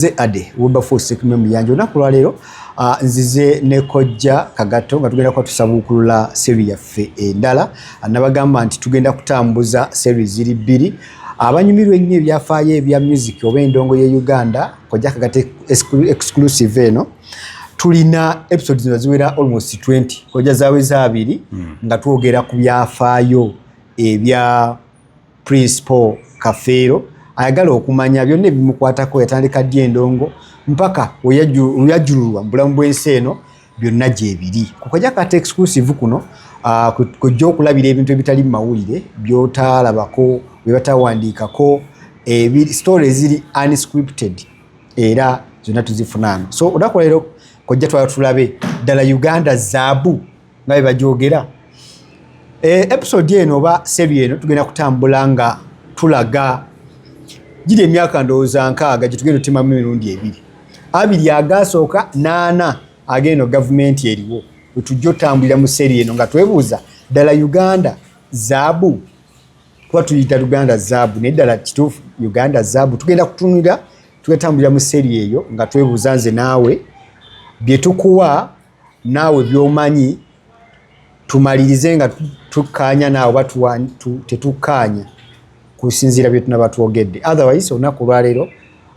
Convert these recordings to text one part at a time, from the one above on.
Nze Ade Wilberforce Sekume Muyanja olunaku lwaleero ah, nzize ne kojja Kagato nga tugenda kuba tusabuukulula seri yaffe endala ah, nabagamba nti tugenda kutambuza seri ziri bbiri abanyumirwa ennyo ebyafaayo ebya music oba endongo ye Uganda kojja Kagato exclusive eno tulina episodes nga ziwera almost 20 kojja zaweza abiri hmm. nga twogera ku byafaayo ebya Prince Paul Kafeero ayagala okumanya byonna ebimukwatako yatandika ddi endongo mpaka weyajululwa mu bulamu bw'ensi eno byonna gyebiri kukajja kata exclusive kuno ah, kujja okulabira ebintu ebitali mu mawulire byotalabako byebatawandiikako story eziri unscripted era zonna tuzifunaano so odakuleero kojja twala tulabe ddala uganda zaabu nga bye bagyogera eh, episode eno oba sebi eno tugenda kutambula nga tulaga giri emyaka ndowooza nkaaga gye tugenda otemamu emirundi ebiri abiri agaasooka naana ageeno gavumenti eriwo wetujja otambulira mu seri eno nga twebuuza ddala uganda zaabu kuba tuyita uganda zaabu naye ddala kituufu uganda zaabu tugenda kutunira tugatambulira mu seri eyo nga twebuuza nze naawe byetukuwa naawe byomanyi tumalirize nga tukkaanya naawe oba tetukkaanya kusinziira bye tunaba twogedde otherwise olunaku olwaleero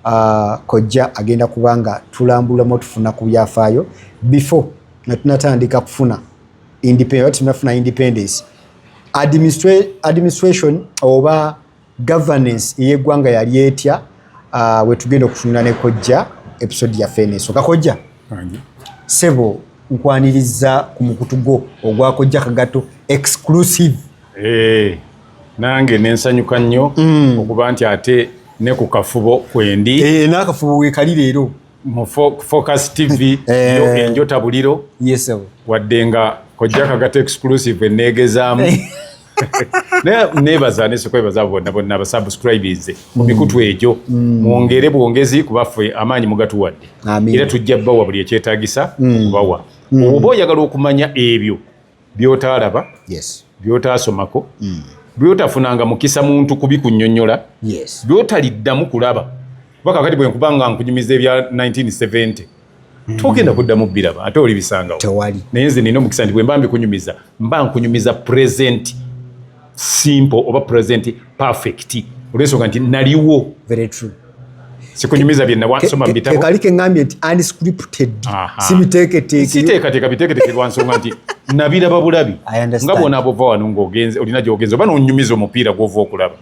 uh, kojja agenda kuba nga tulambulamu otufuna ku byafaayo before nga tunatandika kufuna tunafuna independence administration oba governance eyegwanga yali etya uh, wetugenda okutunula ne kojja episode yaffe eneso kakojja sebo nkwaniriza ku mukutu gwo ogwa kojja kagato exclusive hey, eh, nange nensanyuka nnyo mm. okuba nti ate ne ku kafubo kwendi hey, eh, nakafubo wekali leero mu focus tv eh. yo enjota buliro yes, wadde nga kojja kagato exclusive enegezaamu naye nebaza nesekwebaza bonna bonna abasubscribinze mu mm. mikutu egyo mm. mwongere bwongezi kubaffe amaanyi mugatuwadde era tujja bawa buli ekyetagisa mm. okubawa oba oyagala okumanya ebyo byotaalaba byotaasomako byotafunanga mukisa muntu kubikunyonyola byotaliddamu kulaba kuba kakati bwenkuba nga nkunyumiza ebya 1970 mm. togenda kuddamu biraba ate oli bisangawo tewali naye nze nina omukisa nti bwemba mbikunyumiza mba nkunyumiza present simple oba present perfect olwensonga nti naliwo very true sikunyumiza bye nawasoma mu bitabo kali kengambye nti unscripted sibiteeketeeke siteekateeka biteeketeeke lwa nsonga nti nabiraba bulabi nga bwona bwova wano ng'ogenze olina gy'ogenze oba n'onyumiza omupiira gw'ova okulaba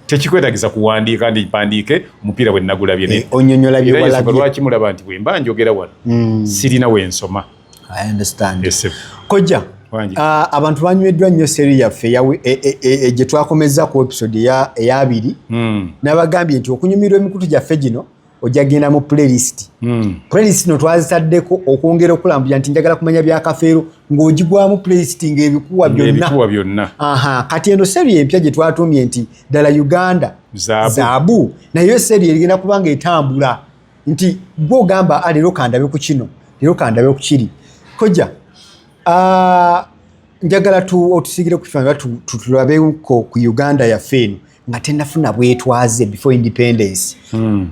tekikwetagiza kuwandiika ndi mpandiike omupiira bwe nagulabye eh, onyonyola byewalabye lwaki mulaba nti bwe mba njogera wano hmm. sirina we nsoma i understand yes, kojja Uh, abantu banyweddwa nnyo seri yaffe e, e, e, gye twakomezza ku episode eyabiri hmm. nabagambye nti okunyumirwa emikutu gyaffe gino ojja genda mu playlist mm. playlist no twazitaddeko okwongera okulambuya nti njagala kumanya bya kafeero ng'ogigwamu playlist ng'ebikuwa byonna byonna aha kati eno seri empya gye twatuumye nti ddala uganda zaabu naye seri erigenda kuba nga etambula nti gwe ogamba ah, leero kandabe ku kino leero kandabe ku kiri kojja uh, njagala tu otusigire ku kifanyi batulabeeko ku uganda yaffe eno nga tenafuna bwetwaze before independence hmm.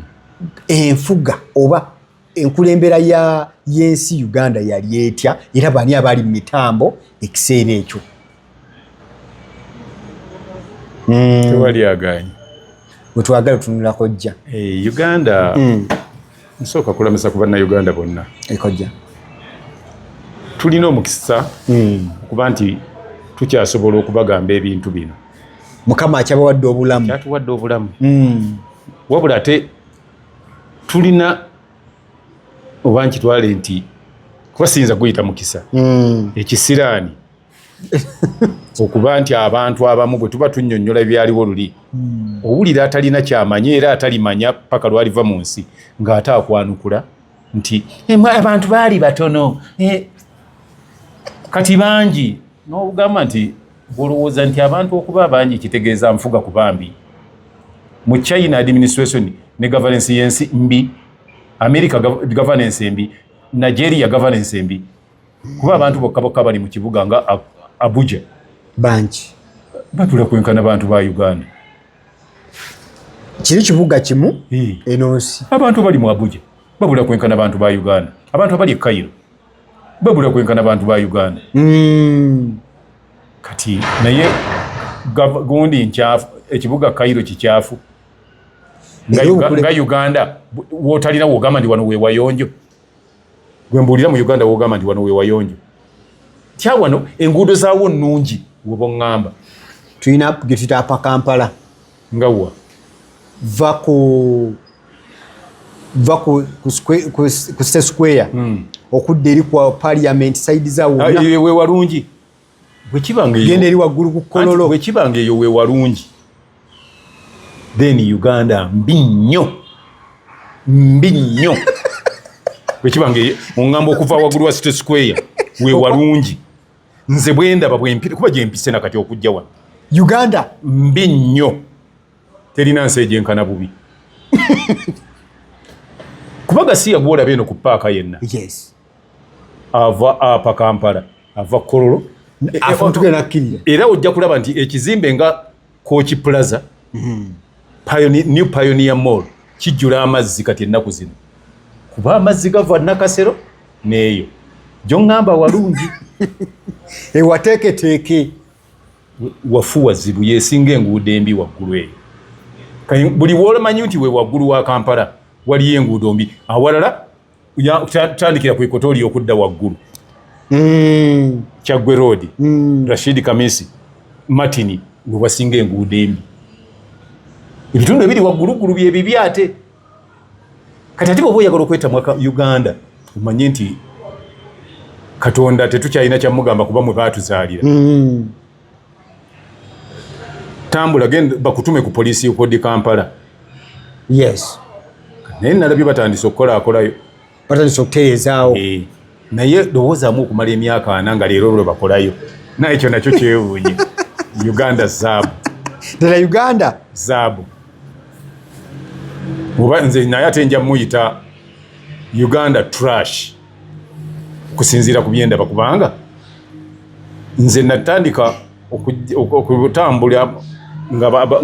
enfuga oba enkulembera ya yensi Uganda yali etya era bani abali mu mitambo ekiseera ekyo hmm. wetwagala tunulako jja eh, Uganda hmm. nsooka kulamisa ku bannauganda bonna ekojja tulina omukisa hmm. okuba nti tukyasobola okubagamba ebintu bino mukama akyabawadde obulamu kyatuwadde obulamu hmm. wabula ate tulina oba nkitwale nti kuba siyinza kuyita mukisa hmm. ekisiraani okuba nti abantu abamu bwe tuba tunyonyola ebyaliwo luli hmm. owulira atalina kyamanya era atalimanya paka lwaliva mu nsi ng'ate akwanukula nti eh, abantu baali batono eh, kati bangi n'ogamba nti Olowooza nti abantu okuba abangi kitegeeza nfuga ku bambi? Mu China administration ne governance y'ensi mbi, America governance embi, Nigeria governance embi, kuba abantu bokka bokka bali mu kibuga nga Abuja bangi batula kwenkana bantu ba Uganda. Kiri kibuga kimu eno nsi abantu bali mu Abuja babula kwenkana bantu ba Uganda, abantu abali e Cairo bwebula kwenkana bantu ba uganda mm. kati naye gundi nkyafu ekibuga kairo kikyafu nga uganda wotalina wogamba ndi wano wewayonjo gwembuulira mu uganda wogamba ndi wano wewayonjo tya wano enguudo zawo nungi woba oŋamba tulina getuyita apakampala nga wa va ku va ku state square hmm. okudda eri ku parliament side za wonna ah, eyo wewalungi bwekibanga eyo genda eri waggulu ku kololo bwekibanga eyo wewalungi then uganda mbi nnyo mbi nnyo bwekibanga eyo ongamba okuva waggulu wa state square wewalungi nze bwendaba bwempire kuba gyempise na kati okujja wano uganda mbi nnyo terina nsi egyenkana bubi kuba gasiya gwolaba eno ku paaka yenna yes. ava apa kampala ava kololo era ojja kulaba nti ekizimbe nga Kooki Plaza, mm-hmm. Pioneer, New Pioneer Mall kijjula amazzi kati ennaku zino kuba amazzi gava Nakasero neeyo gyongamba walungi ewateeketeeke wafu wazibu yesinga enguudo embi waggulu eyo buli woolamanyi nti we waggulu wa kampala waliyo enguudo mbi awalala tandikira ku ikoto oli okudda waggulu mm. kyaggwe roodi mm. rashidi kamisi martini wewasinga enguudo embi ebitundu ebiri wagguluggulu byebibi ate kati ati bwoba oyagala okwetamwa uganda omanye nti katonda tetukyalina kyamugamba kuba mwe baatuzaalira mm. tambula genda bakutume ku poliisi yokodi kampala yes naye nalabye batandise okukola akolayo batandise okutereezaawo eh, naye lowoozaamu okumala emyaka ana nga leero lwe bakolayo naye ekyo nakyo kyewuunye uganda zaabu ddala uganda zaabu oba nze naye ate nja muyita uganda trash kusinziira ku byendaba kubanga nze natandika okutambula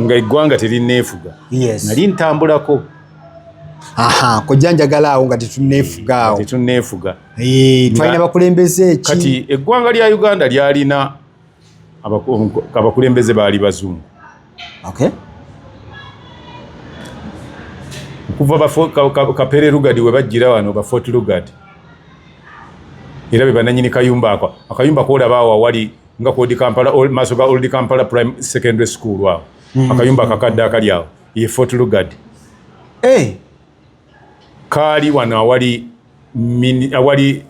nga eggwanga terinneefuga nali ntambulako aha kojja njagala awo nga tetunneefuga awo tetunneefuga eh, twalina bakulembeze ki kati eggwanga lya uganda lyalina abakulembeze baali bazungu okay. okuva kapere lugard webajjira wano ba fort lugard era bebananyini kayumba ako akayumba kolaba awo awali nga kodi kampala maaso ga old kampala prime secondary school awo mm-hmm. akayumba akakadde akali awo ye fort lugard hey. Eh! kaali wano awali awali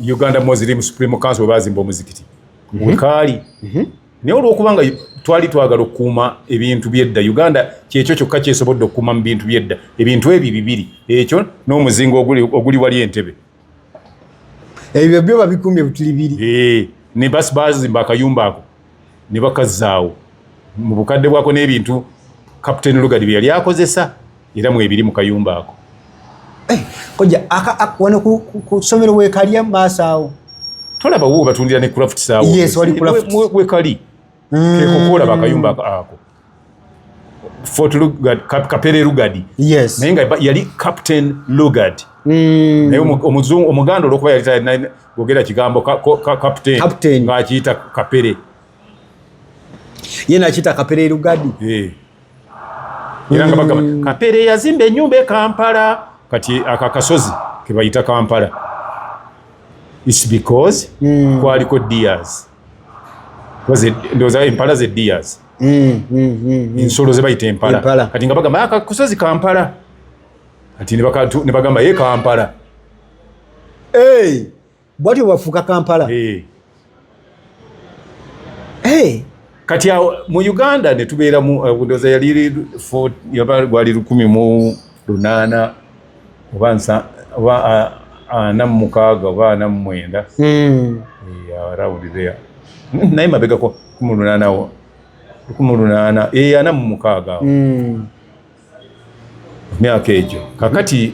Uganda Muslim Supreme Council bazimba omuzikiti mhm. wekaali mhm. naye olwokubanga twali twagala okukuuma ebintu byedda Uganda kyekyo kyokka kyesobodde okukuuma mu bintu byedda ebintu ebyo bibiri ekyo n'omuzinga oguli wali entebe ebyo byo babikumbye butuli biri eh, ne basi bazimba akayumba ako ne bakazzaawo mu bukadde bwako n'ebintu kapiteeni lugadi bye yali akozesa era mwebiri mu kayumba ako eh, koja wano ku somero wekalya maaso awo tolaba wo batundira ne craft saawo wekali mm. kekokola bakayumba ako fort lugard kap, kapere lugard yes naye nga yali captain lugard mm. naye omuzungu omuganda olwokuba yali talina gogera kigambo ka, ka, ka, captain, captain. nga akiyita kapere ye nakiyita kapere lugard yeah. era nga bagamba mm. kapere yazimba enyumba ekampala kati aka kasozi kebayita kampala its because mm. kwaliko dears ndowooza empala ze dias mm, mm, mm, ensolo ze bayita empala kati nga bagamba ah, kusozi kampala kati ne bagamba ye kampala bwati bwafuuka kampala eh. Eh. kati awo mu uganda netubeeramu eh, ndowooza yali gwali lukumi mu lunaana oba oba ana mu mukaaga oba ana mu mwenda hmm. eh, around there naye mabegako kumi lunaana kumi lunaana eh, ana mu mukaaga hmm. myaka egyo kakati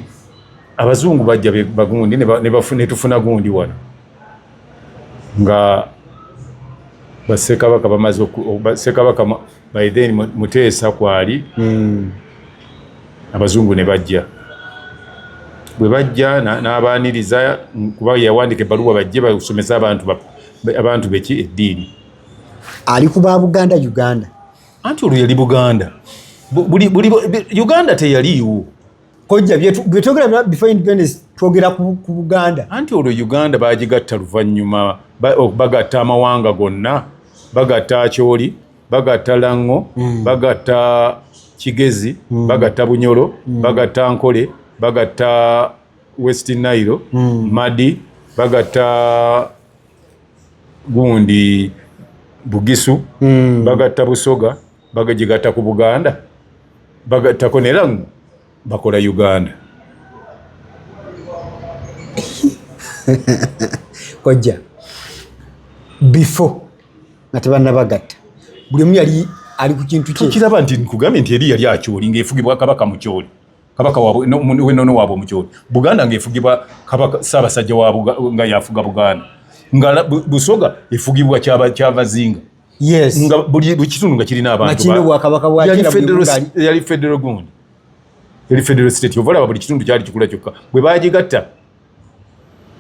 abazungu bajja bagundi netufuna gundi wano nga basekabaka bamaze basekabaka by then muteesa kwali hmm. abazungu ne bajja bwe bajja n'abaaniriza kuba yawandika ebbaluwa bajje basomesa abantu abantu beki eddiini ali ku ba buganda uganda anti olwo yali buganda uganda teyaliiwo kojja byetwogera before independence twogera ku buganda anti olwo uganda bagigatta luvannyuma bagatta amawanga gonna bagatta akyoli bagatta lango mm. bagatta kigezi mm. bagatta bunyolo mm. bagatta nkole bagatta west nairo mm. madi bagatta gundi bugisu mm. bagatta busoga bagagigatta ku buganda bagattako neramu bakola uganda kojja before nga tebanabagatta buli omu yali ali ku kintu kyekiraba nti nkugambye nti eri yali akyoli ngaefugibwa kabaka mukyoli kabaka wenono waabwe omukyoli buganda ngaefugibwa kabaka saabasajja nga yafuga buganda nga busoga efugibwa kyavazinga yes nga buli kitundu nga kirina abantu bakino bwakabaka bwa kila federal yali federal gundi yali federal state ovala buli kitundu kyali kikula kyokka bwe bagigatta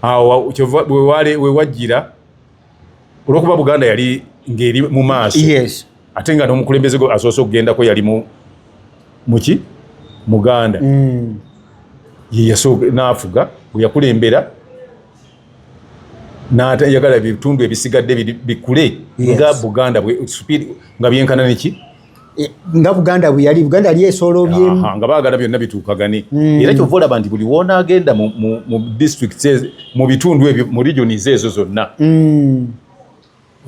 awo we wale we wajira olwokuba buganda yali ngeri mu maaso yes ate nga n'omukulembeze gwe asoose okugendako yali mu muki muganda mm. ye yasooka n'afuga bwe yakulembera n'atayagala ebitundu ebisigadde bikule nga buganda nga byenkana neki Eh, nga buganda bweyali buganda yali esolobyemnga bagala byonna bituukagane hmm. era kyova olaba nti buli woona agenda mu district mu bitundu ebyo mu regionis ezo zonna hmm.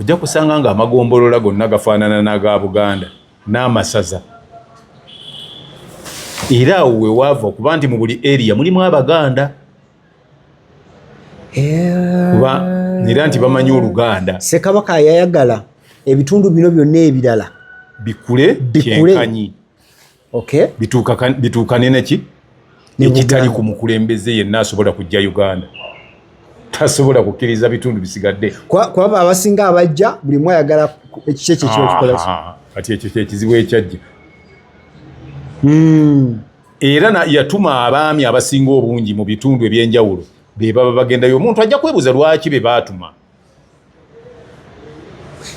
ojja kusanga nga amagombolola gonna gafaanana n'aga buganda n'amasaza era awo wewaava okuba nti mu buli area mulimu abaganda kuba era nti bamanyi oluganda sekabaka yayagala ebitundu bino byonna ebirala bikule kyenkanyi bituukane naki ekitali ku mukulembeze yenna asobola kujja uganda tasobola kukkiriza bitundu bisigadde kwaba abasinga abajja buli mu ayagala ekikyo ekyo kyokikolaki kati ekyo kyekizibu ekyajja hmm. era yatuma abaami abasinga obungi mu bitundu ebyenjawulo be baba bagendayo omuntu ajja kwebuza lwaki be baatuma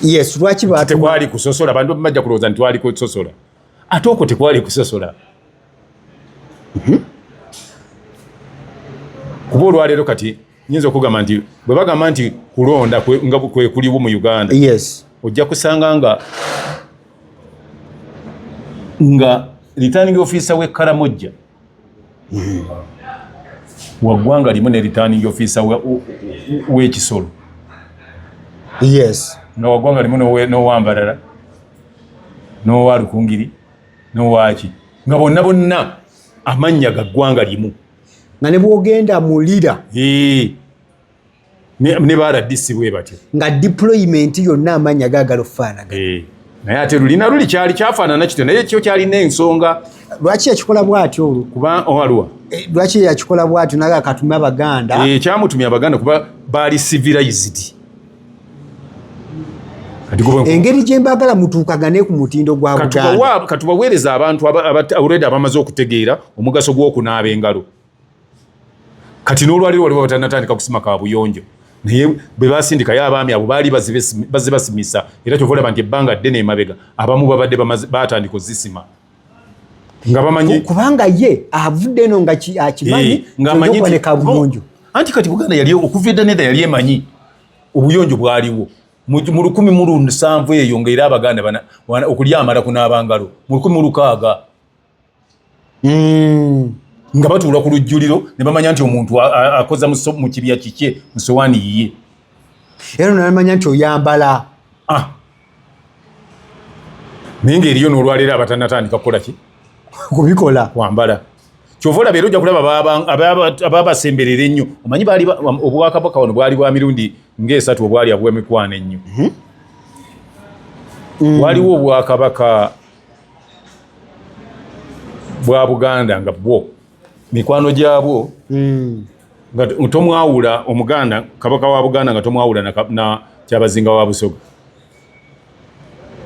yes lwaki tekwali kusosola bantu bajja kulowooza nti twali kusosola ate okwo tekwali kusosola mhm. kuba olwaleero kati nyinza okugamba nti bwe bagamba nti kulonda nga kwe kuliwo mu uganda yes. ojja kusanga nga nga returning officer we karamojja mm. wagwanga limu ne returning officer wekisolo we yes nga wagwanga limu nowambarara nowa lukungiri nowaki nga bonna bonna amannya ga ggwanga limu nga ne bwogenda mu lira ne baradisi bwe batyo nga deployment yonna amaanyi agaagala okufaanaga eh, naye ate lulina luli kyali kyafaanana kityo naye kyo kyalina ensonga lwaki yakikola bwatyo olwo kuba owaliwa oh, eh, lwaki yakikola bwatyo naga katume abaganda eh, kyamutumya abaganda kuba baali civilized engeri gyembagala mutuukagane ku mutindo gwa buganda katubaweereza abantu already abamaze okutegeera omugaso gw'okunaaba engalo kati n'olwaliro waliwo batanatandika kusima ka buyonjo naye bwe basindikayo abaami abo baali bazibasimisa era kyovaolaba nti ebbanga ddene emabega abamu babadde batandika ozisima nga bamanyi kubanga ye avudde eno nga akimanyi eh, nga amanyi kuboneka bulungi anti kati buganda yali okuva edda nedda yali emanyi obuyonjo bwaliwo mu lukumi mu lunsanvu eyo nga era abaganda okulya amala kunaabangalo mu lukumi mu lukaaga hmm. nga batuula ku lujjuliro ne bamanya nti omuntu akoza mu kibya kikye mu sowaani yiye era nonamanya nti oyambala ah. naye ngaeriyo nolwaleero abatanatandika kukola ki kubikola wambala kyova olaba era ojja kulaba ababasemberera ennyo omanyi obwakabaka wano bwali bwa mirundi ngaesatu obwali abwemikwano ennyo mhm. mm. waliwo obwakabaka bwa buganda nga bwo mikwano gyabwo hmm. nga tomwawula omuganda kabaka wa buganda nga tomwawula na kyabazinga wa busoga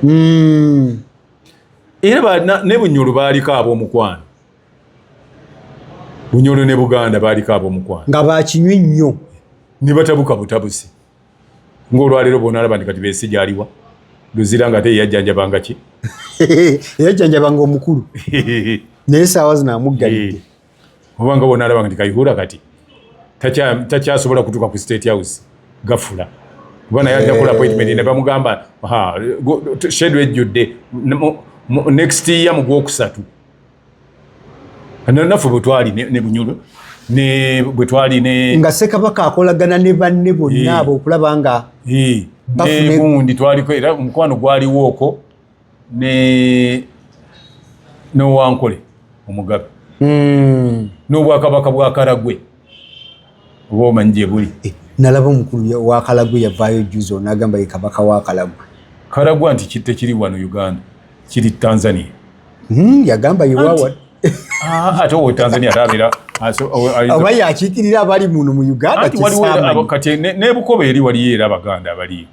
hmm. era ne bunyolo baaliko ab'omukwano bunyolo ne buganda baaliko ab'omukwano nga bakinywi nnyo ne batabuka butabusi ng'olwaleero bona alaba nti kati bensi gyaliwa luzira nga ate yeyajjanjabanga ki yeyajjanjabanga omukulu naye saawa zino amuggalidde eh. oba nga bona alabanga nti kayihura kati takyasobola kutuuka ku state house gafula kuba naye ajja kola appointment ne bamugamba shedu ejjudde next year mu gwokusatu naffe bwe twali ne bunyolo ne bwe twali ne nga sekabaka akolagana ne banne bonna abo okulaba nga negundi twaliko era omukwano gwaliwooko ne nowankole omugabe hmm. n'obwakabaka bwa karagwe oba omanyi gye buli eh, nalaba omukulu wa kalagwe yavaayo juzi onagamba ye kabaka wa kalagwe kalagwa nti kitte kiri wano uganda kiri tanzania hmm, yagamba yewawa ah, ate owo tanzania atabera oba yakiikirira abali muno mu uganda kati nebukoba eri waliyo era abaganda abaliyo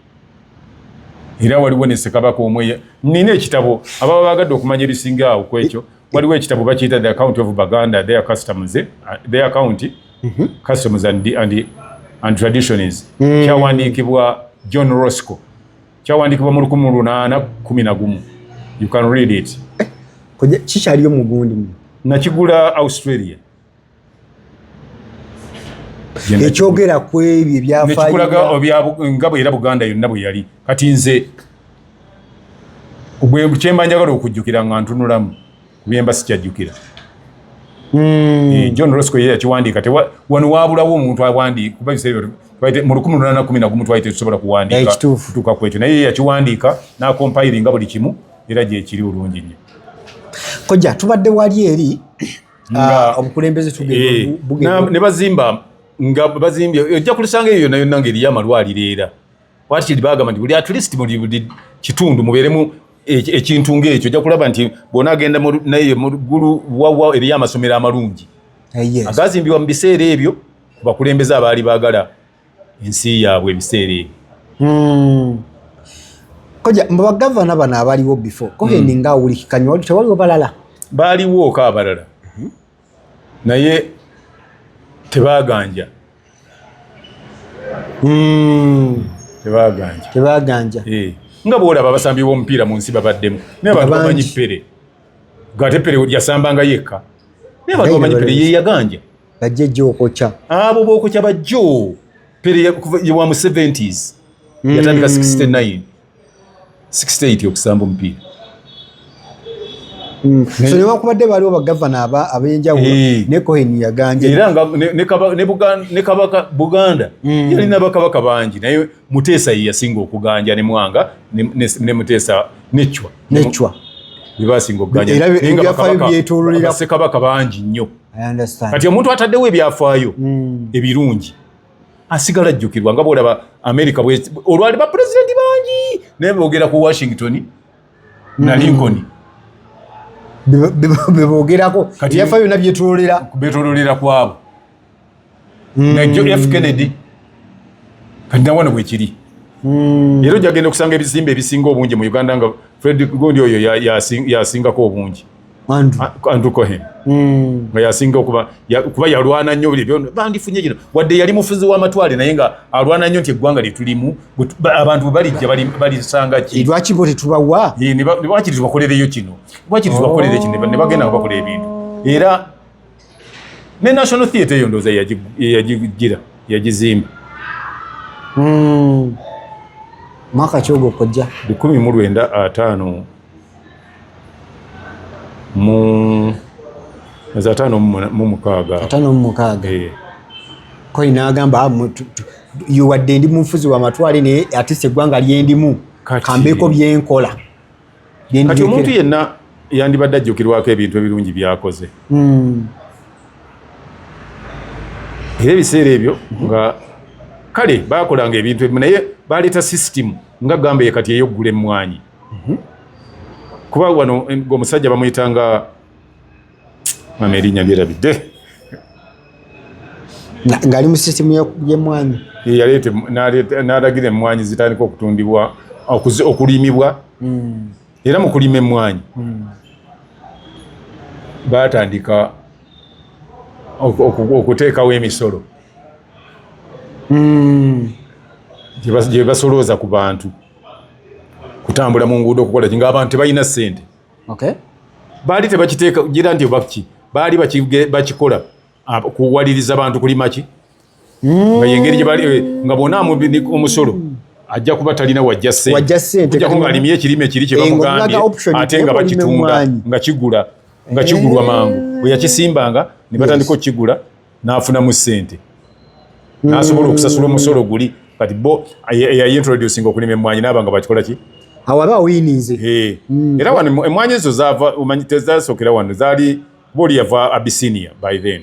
era waliwo ne sekabaka omweya nina ekitabo ababa bagadde okumanya ebisinga awo kwekyo waliwo ekitabo bakiyita the account of baganda their customers eh? their account mm -hmm. customers and, and, and traditions mm. kyawandiikibwa john rosco kyawandiikibwa mu lukumi lunaana kumi na gumu you can read it eh, kikyaliyo mugundi nakigula australia ekyogera ku ebyo ebyafayokulaga nga bwe era buganda yonna bwe yali kati nze kyemba njagala okujjukira nga ntunulamu kubyemba sikyajjukira hmm. eh, john rosco ye yakiwandiika wano wabulawo omuntu awandiika kuba biseera mu lukumi lunana kumi nagumu twali tetusobola kuwandiika kutuuka ku ekyo naye ye yakiwandiika n'akompayiringa buli kimu era gyekiri olungi nnyo kojja tubadde wali eri ah, obukulembeze tugenda eh, ne bazimba nga bazimbye ojja kulisanga eyo yonna yonna ng'eriyo amalwaliro era wakiri bagamba nti buli at least buli buli kitundu mubeeremu ekintu ng'ekyo ojja kulaba nti bwona agenda naye mu ggulu wawa eriyo amasomero amalungi agazimbibwa mu biseera ebyo bakulembeze abaali baagala ensi yaabwe ebiseera ebyo hmm. koja mubagavana bano abaliwo before koheni hmm. nga awulikikanywa wali tewaliwo balala baliwooko abalala mhm. naye tebaganja hmm. tebaganja tebaganja eh. nga bwolaba abasambi b'omupiira mu nsi babaddemu naye abantu bamanyi pere gate pere yasambanga yekka naye abantu bamanyi pere yeyaganja bajja ejja okokya abo bokokya bajjo pere wa mu 70s mm. yatandika 69 68 okusamba omupiira mm. so newakubadde waliwo bagavana abenjawulo eh. ne cohen yaganje era nga ne kabaka buganda mm. yalina bakabaka bangi naye muteesa ye yasinga okuganja ne mwanga ne muteesa necwa necwa bebasinga okuganja naye nga bakabaka bangi nnyo kati omuntu ataddewo ebyafaayo mm. ebirungi asigala ajjukirwa nga bwolaba amerika olwali bapulezidenti bangi naye bogera ku washington na mm. lincoln bebogerako ebyafa byona byetololera kwabo hmm. nga jo f kennedy kati nawana bwekiri hmm. era ojja genda okusanga ebizimbe ebisinga obungi mu uganda nga fredrick gondi oyo yasingako obungi andrew cohen hmm. nga yasinga okuba kuba yalwana nnyo buli byona bandifunye kino wadde yali mufuzi w'amatwale naye nga alwana nnyo nti eggwanga lyetulimu abantu balijja balisanga ki lwaki bo tetubawa lwakiri tubakolereyo kino lwakiri tubakolere kino ne bagenda nga bakola ebintu era ne national theatre eyo ndoza yajigira yajizimba hmm. mwaka kyogo kojja bikumi mu lwenda ataano mu za ataano mu mukaaga ataano mu mukaaga eh. koi nagamba ah, yuwadde ndi munfuzi wa matwale naye atise eggwanga lyendimu kambeeko byenkola kati omuntu yenna yandibadde ajjukirwako ebintu ebirungi byakoze hmm. era ebiseera ebyo nga kale bakolanga ebintu ebimu naye baleeta sisitimu nga gamba ye kati eyoggula emmwanyi mhm. kuba wano omusajja bamuyitanga mama erinya byerabidde ngali mu system yemwanyi yaleete n'alagira emmwanyi zitandika okutundibwa okulimibwa hmm. era mu kulima emmwanyi hmm. baatandika okuteekawo emisolo hmm. gye basolooza ku bantu kutambula mu nguudo okukola ki ng'abantu tebalina ssente okay. baali tebakiteeka gira nti obaki baali bakikola ah, kuwaliriza bantu kulima ki mm. nga yengeri gyebali eh, nga bona omusolo ajja kuba talina wajja sentejako nga alimye ekirime kiri kyebamugambye eh, ate nga bakitunda nga kigula nga kigulwa eh. mangu bweyakisimbanga ne batandika okukigula n'afunamu ssente n'asobola okusasula omusolo guli kati bo eyayintroducinga okulima emmwanyi naaba nga bakikola ki awaba oyininze mm. era wano emmwanyi ezo zaava omanyi tezasookera wano zaali booli yava abisinia by then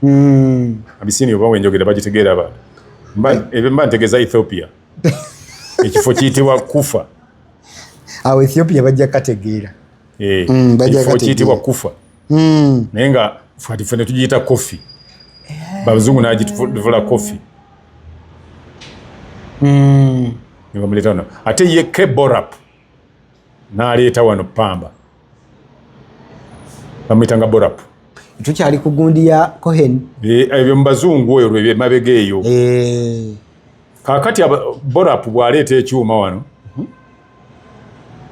mm. abisinia oba wenjogera bagitegeera abantu mba ntegeza ethiopia ekifo kiyitibwa kufa awo ethiopia bajja kategeera ekifo kiyitibwa kufa hmm. naye nga fati ffe netugiyita koffi eh. babazungu nagituvula koffi hmm. nebamuleta wano ate ye keborap naleeta wano pamba bamuyita nga borap tukyali ku gundi ya cohen eh, ebyo mubazungu oyo lwemabega eyo eh. kakati borap bwaleeta ekyuma wano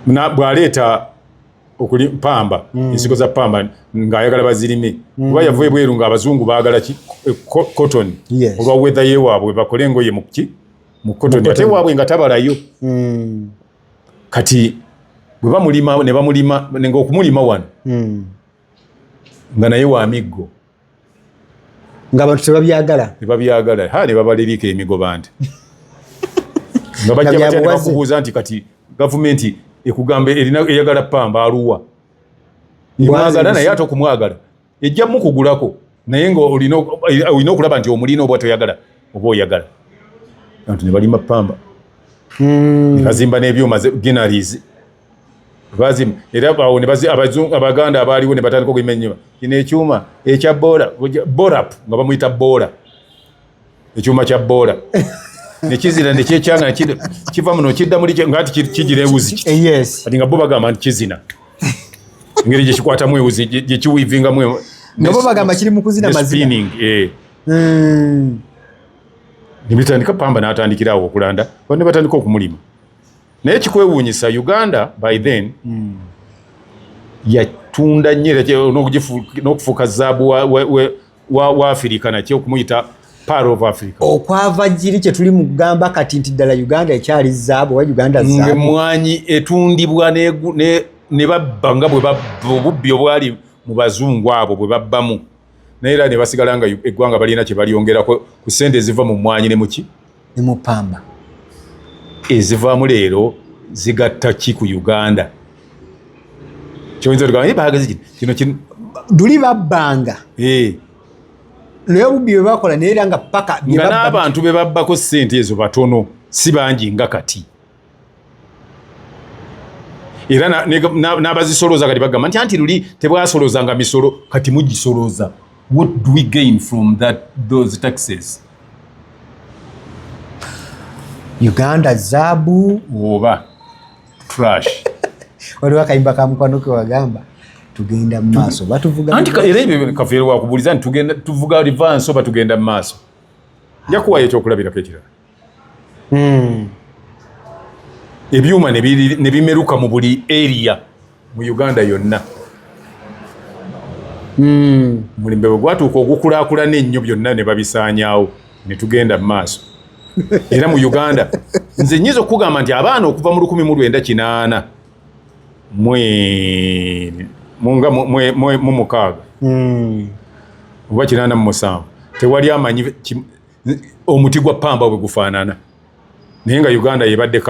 mhm. bwaleeta okuli pamba mm. ensigo za pamba ng'ayagala bazirime mm. kuba yava ebweru ng'abazungu baagala ki eh, cotton yes. olwa wedha yewaabwe bakole engoye muki mu cotton ate waabwe nga tabalayo mm. kati bwe bamulima ne bamulima ngaokumulima wano mm. nga naye wa miggo nga abantu tebabyagala tebabyagala ha ne babalirika emigoba nti nga bajja batya ne bakubuuza nti kati gavumenti ekugamba erina eyagala pamba aluwa emwagala naye ate okumwagala ejja mukugulako naye nga olina okulaba nti omulina oba toyagala oba oyagala anti ne balima pamba hmm. bazimba n'ebyuma genaries bazimu era awo ne bazi abazungu abaganda abaaliwo ne batandika okuyima ennyuma kino ekyuma ekya boola borap nga bamuyita boola ekyuma kya boola nekizina nekyekyanga kiva muno kidda muli nga ti kigira ewuzi eh, kati nga bo bagamba nti kizina engeri gyekikwatamu ewuzi gyekiwivingamu e- nabo bagamba kiri mukuzina mazina eh. hmm. nebitandika pamba natandikirawo okulanda ne batandika okumulima naye kikwewuunyisa uganda by then mm. yatunda nyo nokufuuka zaabu wa, wa, wa, wa, wa afirika nakyo okumuyita okwava jiri kyetuli mugamba kati nti ddala uganda ekyali zaabu oba uganda emwanyi etundibwa ne babba nga bwebubbi obwali mu bazungu abo bwe babbamu naye era nebasigala nga eggwanga balina kyebalyongerako ku sente eziva mu mwanyi ne muki ne mu pamba ezivaamu leero zigatta ki ku uganda kyoyinza tugamba naye bagezi kino kino kino duli babbanga eh. naye obubbi bwe bakola naye era nga paka nga n'abantu be babbako sente ezo batono si bangi nga kati era n'abazisolooza kati bagamba nti anti luli tebwasoloozanga misolo kati mugisolooza what do we gain from that those taxes uganda zaabu oba trash waliwo akayimba ka mukwano ke wagamba tugenda mu maaso batuvuga anti era ebyo kafeere wakubuuliza nti tugenda tuvuga rivansi oba tugenda mu maaso njakuwayo ekyokulabirako ekirala hmm. ebyuma ne bimeruka mu buli eriya mu uganda yonna hmm. mulimbe bwe gwatuuka ogukulakulana ennyo byonna ne babisaanyaawo ne tugenda mu maaso era mu uganda nze nyinza okukugamba nti abaana okuva mu lukumi mu lwenda kinaana mumukaaga hmm. oba kinaana mu musanvu tewali amanyi omuti gwa pamba bwe gufaanana naye nga uganda yebadde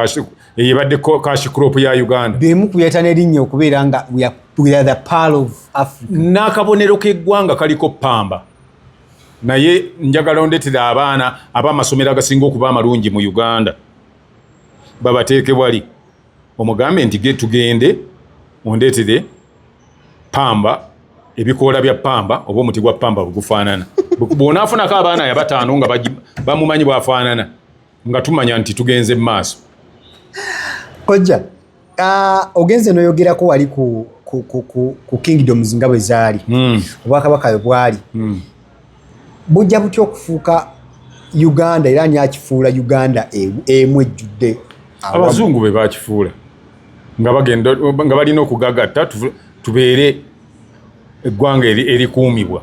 yebadde cash crop ya uganda bemu kuyata nerinnya okubeera nga n'akabonero k'eggwanga kaliko pamba naye njagala ondetera abaana ab'amasomero agasinga okuba amalungi mu uganda babateeke wali omugambe nti ge tugende ondeetere pamba ebikoola bya pamba oba omuti gwa pamba bwegufaanana bwonaafunako abaana ya bataano nga bamumanyi bwafaanana nga tumanya nti tugenze mu maaso kojja ogenze noyogerako wali ku kingdoms nga bwe zaali hmm. obwakabaka yo bwali hmm. bujja butya okufuuka uganda era ani akifuula uganda e, emu ejjudde abazungu be bakifuula nga bagenda nga balina okugagatta tubeere eggwanga erikuumibwa